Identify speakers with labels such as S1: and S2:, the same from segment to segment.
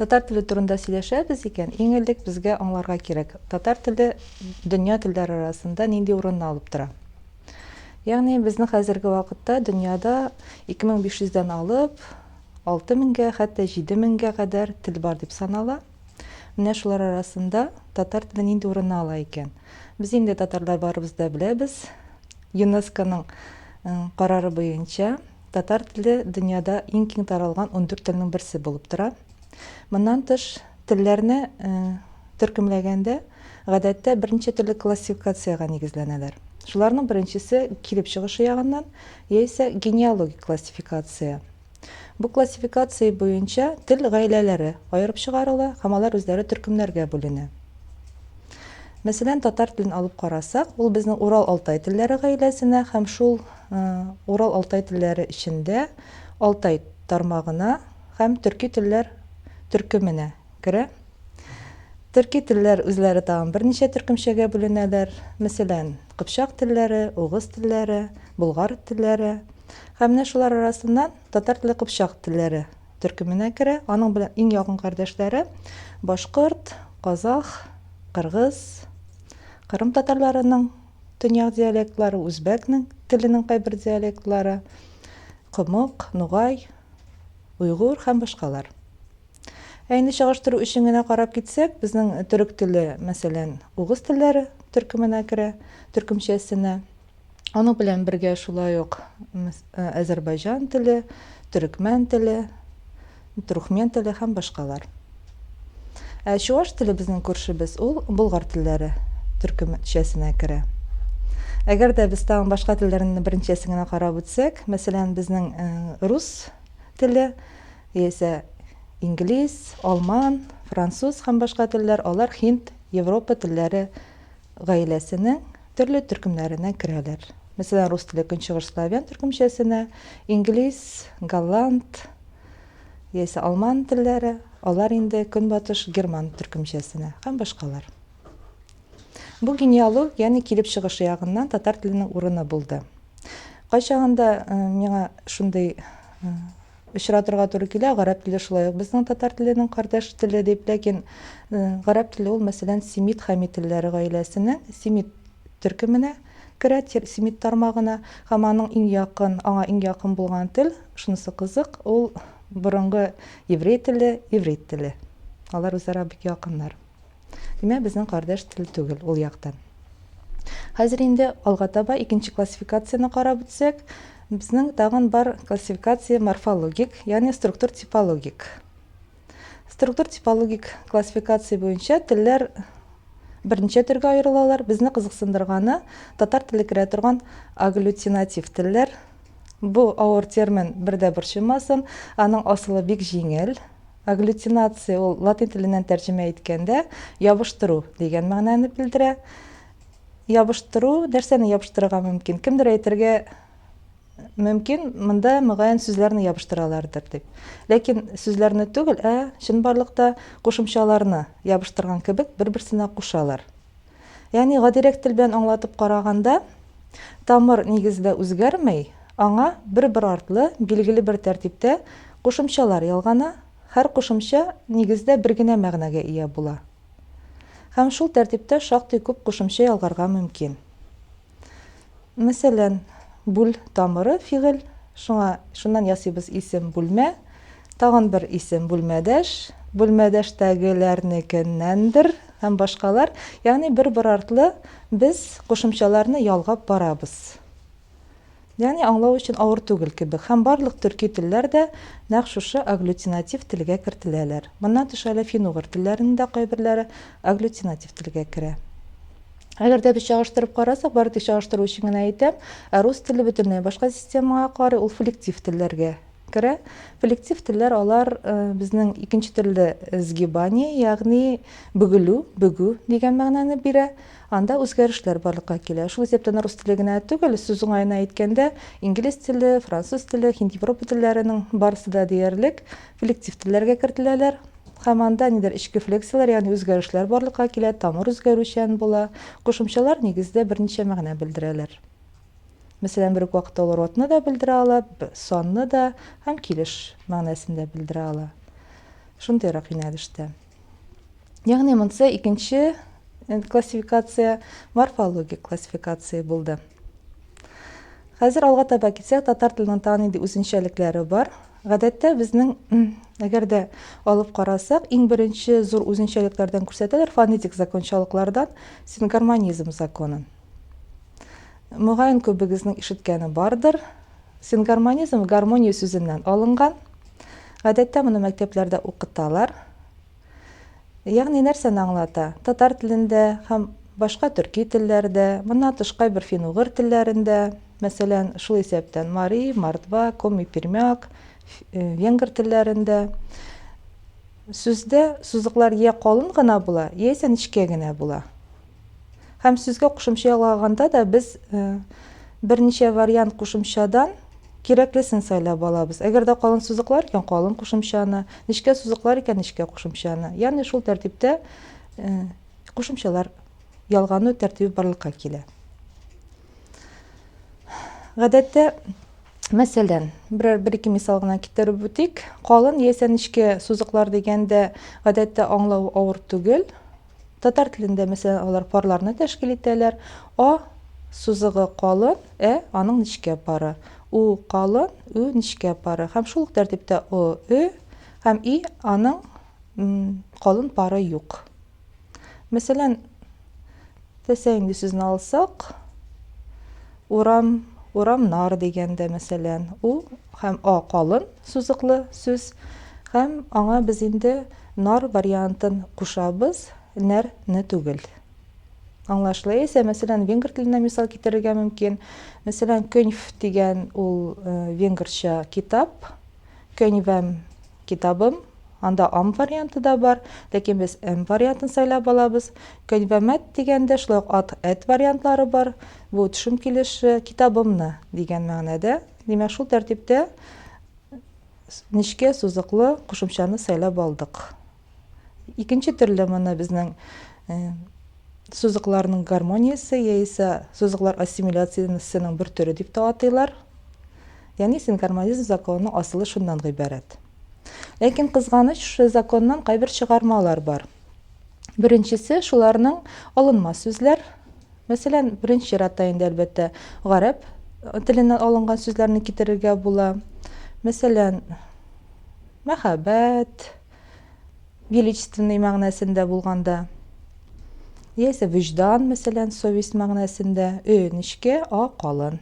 S1: Татар теле турында сөйләшәбез икән, иң элек безгә аңларга кирәк, татар теле дөнья телләре арасында нинди урынны алып тора. Ягъни безнең хәзерге вакытта дөньяда 2500 дән алып 6000 меңгә, хәтта 7000 меңгә кадәр тел бар дип санала. Менә шулар арасында татар теле нинди урынны ала икән? Без инде татарлар барыбыз да беләбез, ЮНЕСКОның карары буенча татар теле дөньяда иң киң таралган ундүрт телнең берсе булып тора. Моннан тыш, телләрне төркемләгәндә, гадәттә, берничә төрле классификациягә нигезләнәләр. Шуларның беренчесе, килеп чыгышы ягыннан, яисә генеалогик классификация. Бу классификация буенча тел гаиләләре аерып чыгарыла һәм алар үзләре төркемнәргә бүленә. Мәсәлән, татар телен алып карасак, ул безнең Урал-Алтай телләре гаиләсенә һәм шул Урал-Алтай телләре эчендә Алтай тармагына һәм төрки телләр төркеменә керә. Төрки телләр үзләре тагын берничә төркемчәгә бүленәләр, мәсәлән, кыпчак телләре, угыз телләре, болгар телләре. Һәм менә шулар арасыннан татар теле кыпчак телләре төркеменә керә, аның белән иң якын кардәшләре башкорт, казах, кыргыз, кырым татарларының төньяк диалектлары, үзбәкнең теленең кайбер диалектлары, комык, нугай, уйгур һәм башкалар. Ә инде чагыштыру өчен генә карап китсәк, безнең төрек теле, мәсәлән, угыз телләре төркеменә керә, төркемчәсенә. Аның белән бергә шулай ук әзәрбайҗан теле, төрекмән теле, трухмен теле һәм башкалар. Ә чуваш теле безнең күршебез, ул болгар телләре төркемчәсенә керә. Әгәр дә без тагын башка телләрне беренчәсен генә карап үтсәк, мәсәлән, безнең рус теле, Яисә инглиз, алман, француз һәм башка телләр, алар һинд, европа телләре гаиләсенең төрле төркемнәренә керәләр. Мәсәлән, рус теле көнчыгыш славян төркемчәсенә, инглиз, голланд яисә алман телләре, алар инде көнбатыш герман төркемчәсенә һәм башкалар. Бу генеалог, ягъни килеп чыгышы ягыннан татар теленең урыны булды. Кайчагында миңа шундый Очратырга туры килә, гарәп теле шулай ук безнең татар теленең кардәш теле дип, ләкин гарәп теле ул, мәсәлән, семит-хамит телләре гаиләсенең семит төркеменә керә, семит тармагына, һәм аның иң якын, аңа иң якын булган тел, шунысы кызык, ул борынгы еврей теле, иврит теле. Алар үзара бик якыннар. Димәк, безнең кардәш тел түгел ул яктан. Хәзер инде алга таба икенче классификацияне карап үтсәк, безнең тагын бар классификация морфологик, ягъни структур-типологик. Структур-типологик классификация буенча телләр берничә төргә аерылалар. Безне кызыксындырганы татар теле керә торган агглютинатив телләр. Бу авыр термин бердә борчымасын, аның асылы бик җиңел. Агглютинация ул латин теленнән тәрҗемә иткәндә ябыштыру дигән мәгънәне белдерә. Ябыштыру, нәрсәне ябыштырырга мөмкин? Кемдер әйтергә мөмкин, монда мөгаен сүзләрне ябыштыралардыр дип. Ләкин сүзләрне түгел, ә чынбарлыкта кушымчаларны ябыштырган кебек бер-берсенә кушалар. Ягъни гадирәк тел белән аңлатып караганда, тамыр нигездә үзгәрмәй, аңа бер-бер артлы билгеле бер тәртиптә кушымчалар ялгана, һәр кушымча нигездә бер генә мәгънәгә ия була. Һәм шул тәртиптә шактый күп кушымча ялгарга мөмкин. Мәсәлән, бүл тамыры фигыль, шуңа шуннан ясыйбыз исем бүлмә, тагын бер исем бүлмәдәш, бүлмәдәштәгеләрнекеннәндер һәм башкалар, ягъни бер-бер артлы без кушымчаларны ялгап барабыз. Ягъни аңлау өчен авыр түгел кебек һәм барлык төрки телләр дә нәкъ шушы агглютинатив телгә кертеләләр. Моннан тыш әле фин-угыр телләренең дә кайберләре агглютинатив телгә керә. Әгәр дә без чагыштырып карасак, бары тик чагыштыру өчен генә әйтәм, ә рус теле бөтенләй башка системага карый, ул флектив телләргә керә. Флектив телләр алар безнең икенче төрле сгибание, ягъни бөгелү, бөгү дигән мәгънәне бирә. Анда үзгәрешләр барлыкка килә. Шул исәптән рус теле генә түгел, сүз уңаена әйткәндә, инглиз теле, француз теле, һинд-европа телләренең барысы да диярлек флектив телләргә кертеләләр һәм анда нидер эчке флексияләр, ягъни үзгәрешләр барлыкка килә, тамыр үзгәрүчән була. Кушымчалар, нигездә, берничә мәгънә белдерәләр. Мәсәлән, бер үк вакытта алар атны да белдерә ала, санны да һәм килеш мәгънәсен дә белдерә ала. Шундыйрак юнәлештә. Ягъни монысы икенче э, классификация, морфологик классификация булды. Хәзер алга таба китсәк, татар теленең тагын нинди үзенчәлекләре бар. Гадәттә безнең әгәр дә алып карасак, иң беренче зур үзенчәлекләрдән күрсәтәләр фонетик закончалыклардан син гармонизм законын. Мөгаен күбегезнең ишеткәне бардыр. Сингармонизм гармония сүзеннән алынган. Гадәттә моны мәктәпләрдә укыталар. Ягъни нәрсәне аңлата? Татар телендә һәм башка төрки телләрдә, моннан тышкай бер фин-угыр телләрендә, мәсәлән, шул исәптән мари, мордва, коми, пермяк, венгр телләрендә сүздә сузыклар йә калын гына була, яисә нечкә генә була. Һәм сүзгә кушымча ялаганда да без берничә вариант кушымчадан кирәклесен сайлап алабыз. Әгәр дә калын сузыклар икән, калын кушымчаны, нечкә сузыклар икән, нечкә кушымчаны. Ягъни шул тәртиптә кушымчалар ялгану тәртибе барлыкка килә. Гадәттә, мәсәлән, берәр бер-ике мисал гына китереп үтик. Калын яисә нечкә сузыклар дигәндә, гадәттә аңлау авыр түгел. Татар телендә, мәсәлән, алар парларны тәшкил итәләр. А сузыгы калын, ә аның нечкә пары. У калын, ө нечкә пары. Һәм шул ук тәртиптә о, ө һәм и аның калын пары юк. Мәсәлән, тәсә инде сүзне алсак, Урам, урамнар дигәндә, мәсәлән, у һәм а калын сузыклы сүз һәм аңа без инде нар вариантын кушабыз, нәр не түгел. Аңлашлы? Яисә, мәсәлән, венгр теленә мисал китерергә мөмкин. Мәсәлән, көньф дигән ул венгрча китап, көньвәм, Китабым, анда ам варианты да бар, ләкин без м вариантын сайлап алабыз. Көньвәмәт дигәндә шулай ук ат, эт вариантлары бар. Бу төшем килеше, китабымны дигән мәгънәдә. Димәк, шул тәртиптә нечкә сузыклы кушымчаны сайлап алдык. Икенче төрле моны безнең сузыкларның гармониясе яисә сузыклар ассимиляциясенең бер төре дип тә атыйлар. Яни сингармонизм законының асылы шуннан гыйбарәт. Ләкин кызганыч, шушы законнан кайбер чыгармалар бар. Беренчесе шуларның алынма сүзләр. Мәсәлән, беренче чиратта инде әлбәттә гарәп теленнән алынган сүзләрне китерергә була. Мәсәлән, мәхәббәт, величественный мәгънәсендә булганда, яисә вөҗдан, мәсәлән, совесть мәгънәсендә, өенечкә, а калын.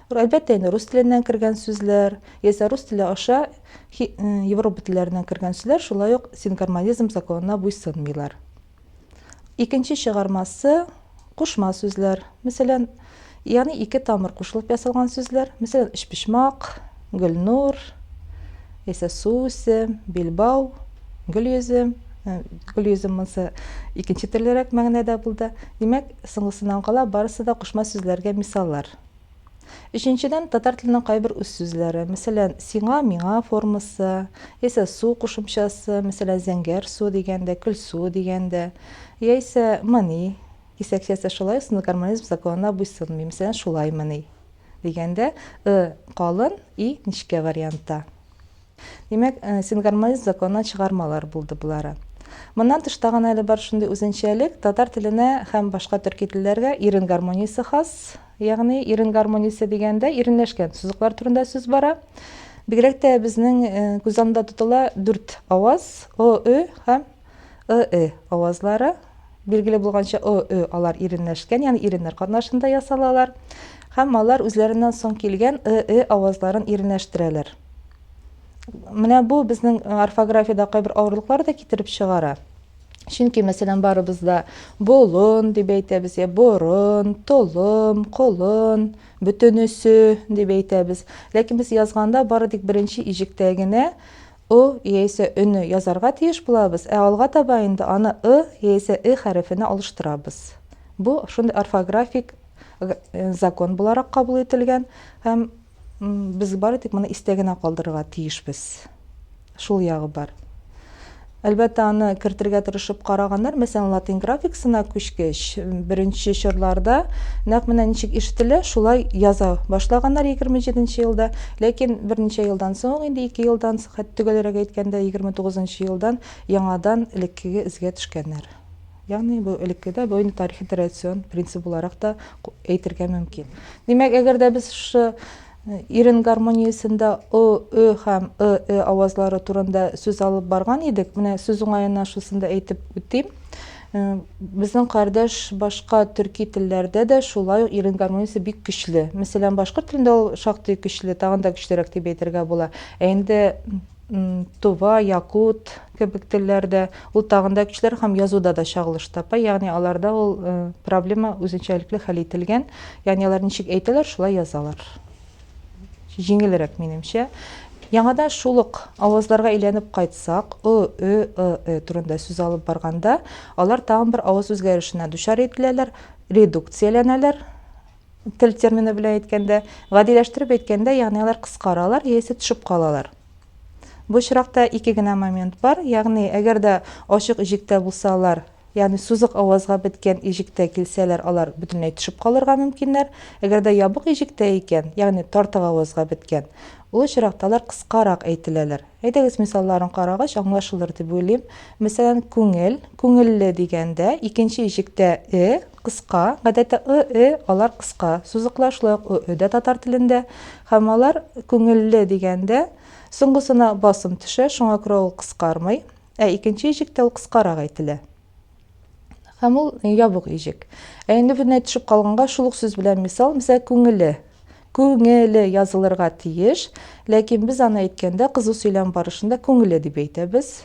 S1: Әлбәттә, инде рус теленнән кергән сүзләр, яисә рус теле аша Европа телләреннән кергән сүзләр шулай ук сингармонизм законына буйсынмыйлар. Икенче чыгармасы, кушма сүзләр. Мәсәлән, ягъни ике тамыр кушылып ясалган сүзләр. Мәсәлән, өчпочмак, Гөлнур, яисә Сусе, билбау, Гөлйөзем. Гөлйөзем монысы икенче төрлерәк мәгънәдә булды. Димәк, соңгысыннан кала барысы да кушма сүзләргә мисаллар. Өченчедән, татар теленең кайбер үз сүзләре, мәсәлән, сиңа, миңа формасы, яисә су кушымчасы, мәсәлән, зәңгәр су дигәндә, көл суы дигәндә, яисә мыни кисәкчәсе шулай ук сынлы гармонизм законына буйсынмый, мәсәлән, шулаймыни дигәндә, ы калын, и нечкә вариантта. Димәк, сингармонист законына чыгармалар булды болары. Моннан тыш тагын әле бар шундый үзенчәлек, татар теленә һәм башка төрки телләргә ирен гармониясе хас, ягъни ирен гармониясе дигәндә иренләшкән сузыклар турында сүз бара. Бигрәк тә безнең күз алдында тотыла дүрт аваз, о, ө һәм ы, э авазлары, билгеле булганча, ы, ө алар иренләшкән, ягъни иреннәр катнашында ясалалар. Һәм алар үзләреннән соң килгән ы, э авазларын иренләштерәләр. Менә бу безнең орфографиядә кайбер авырлыклар да китереп чыгара. Чөнки, мәсәлән, барыбыз да болын дип әйтәбез, я борын, толым, колын, бөтенесе дип әйтәбез. Ләкин без язганда бары тик беренче иҗектә генә ы яисә өне язарга тиеш булабыз, ә алга таба инде аны ы яисә э хәрефенә алыштырабыз. Бу шундый орфографик закон буларак кабул ителгән һәм без бары тик моны истә генә калдырырга тиешбез. Шул ягы бар. Әлбәттә, аны кертергә тырышып караганнар, мәсәлән, латин графикасына күчкәч, беренче чорларда нәкъ менә ничек ишетелә, шулай яза башлаганнар 27 елда. Ләкин берничә елдан соң, инде ике елдан соң, хәт төгәлрәк әйткәндә, егерме тугызынчы елдан яңадан элеккеге эзгә төшкәннәр. Ягъни бу элекке дә, бу инде тарихи традицион принцип буларак та әйтергә мөмкин. Димәк, әгәр дә без шушы ирен гармониясендә ы, ө һәм ы, э авазлары турында сүз алып барган идек, менә сүз уңаена шусын да әйтеп үтим. Безнең кардәш башка төрки телләрдә дә шулай ук ирен гармониясе бик көчле. Мәсәлән, башкорт телендә ул шактый көчле, тагын да көчлерәк дип әйтергә була. Ә инде тува, якут кебек телләрдә ул тагын да көчлерәк һәм язуда да чагылыш тапа, ягъни аларда ул проблема үзенчәлекле хәл ителгән, ягъни алар ничек әйтәләр, шулай язалар. Җиңелрәк, минемчә. Яңадан шул ук авазларга әйләнеп кайтсак, ы, ө, ы, э турында сүз алып барганда, алар тагын бер аваз үзгәрешенә дучар ителәләр, редукцияләнәләр, тел термины белән әйткәндә, гадиләштереп әйткәндә, ягъни алар кыскаралар яисә төшеп калалар. Бу очракта ике генә момент бар, ягъни әгәр дә ачык ижектә булсалар, Ягъни сузык авазга беткән иҗектә килсәләр, алар бөтенләй төшеп калырга мөмкиннәр. Әгәр дә ябык иҗектә икән, ягъни тартык авазга беткән, ул очракта алар кыскарак әйтеләләр. Әйдәгез, мисалларын карагач, аңлашылыр дип уйлыйм. Мәсәлән, күңел, күңелле дигәндә, икенче иҗектә э кыска, гадәттә ы, э алар кыска сузыклар, шулай ук ы, э дә татар телендә, һәм алар күңелле дигәндә, соңгысына басым төшә, шуңа күрә ул кыскармый. Ә икенче иҗектә ул кыскарак әйтелә. Һәм ул ябык иҗек. Ә инде бөтенләй төшеп калганга шул ук сүз белән мисал, мисәл, күңеле. Күңеле язылырга тиеш, ләкин без аны әйткәндә, кызу сөйләм барышында күңеле дип әйтәбез.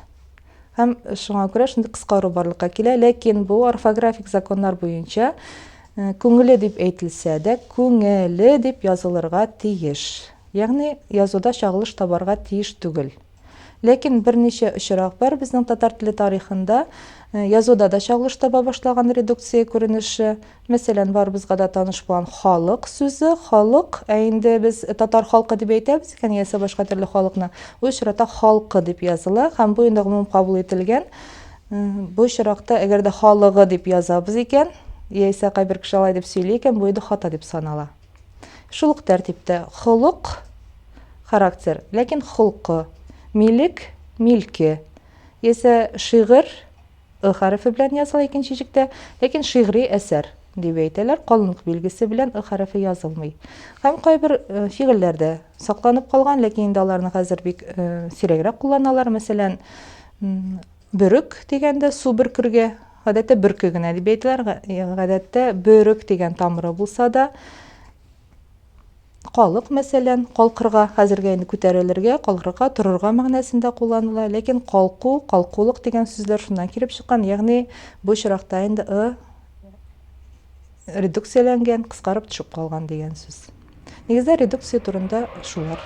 S1: Һәм шуңа күрә шундый кыскару барлыкка килә, ләкин бу орфографик законнар буенча Э, күңеле дип әйтелсә дә күңеле дип язылырга тиеш ягъни язуда чагылыш табарга тиеш түгел Ләкин берничә очрак бар безнең татар теле тарихында, язуда да чагылыш таба башлаган редукция күренеше. Мәсәлән, барыбызга да таныш булган халык сүзе, халык, ә инде без татар халкы дип әйтәбез икән, яисә башка төрле халыкны, бу очрата халкы дип языла һәм бу инде гомум кабул ителгән. Бу очракта, әгәр дә халыгы дип язабыз икән, яисә кайбер кеше алай дип сөйли икән, бу инде хата дип санала. Шул ук тәртиптә холык, характер, ләкин холкы, милек, милке. Яисә шигырь, ы хәрефе белән языла икенче җектә, ләкин шигъри әсәр дип әйтәләр, калынлык билгесе белән ы хәрефе язылмый. Һәм кайбер э, фигыльләр дә сакланып калган, ләкин инде аларны хәзер бик э, сирәгрәк кулланалар. Мәсәлән, Бөрек дигәндә су бөркергә, гадәттә бөрке генә дип әйтәләр, гадәттә бөрек дигән тамыры булса да, калык, мәсәлән, калкырга, хәзергә инде күтәрелергә, калкырга, торырга мәгънәсендә кулланыла, ләкин калку, калкулык дигән сүзләр шуннан килеп чыккан, ягъни бу очракта инде ы редукцияләнгән, кыскарып төшеп калган дигән сүз. Нигездә редукция турында шулар.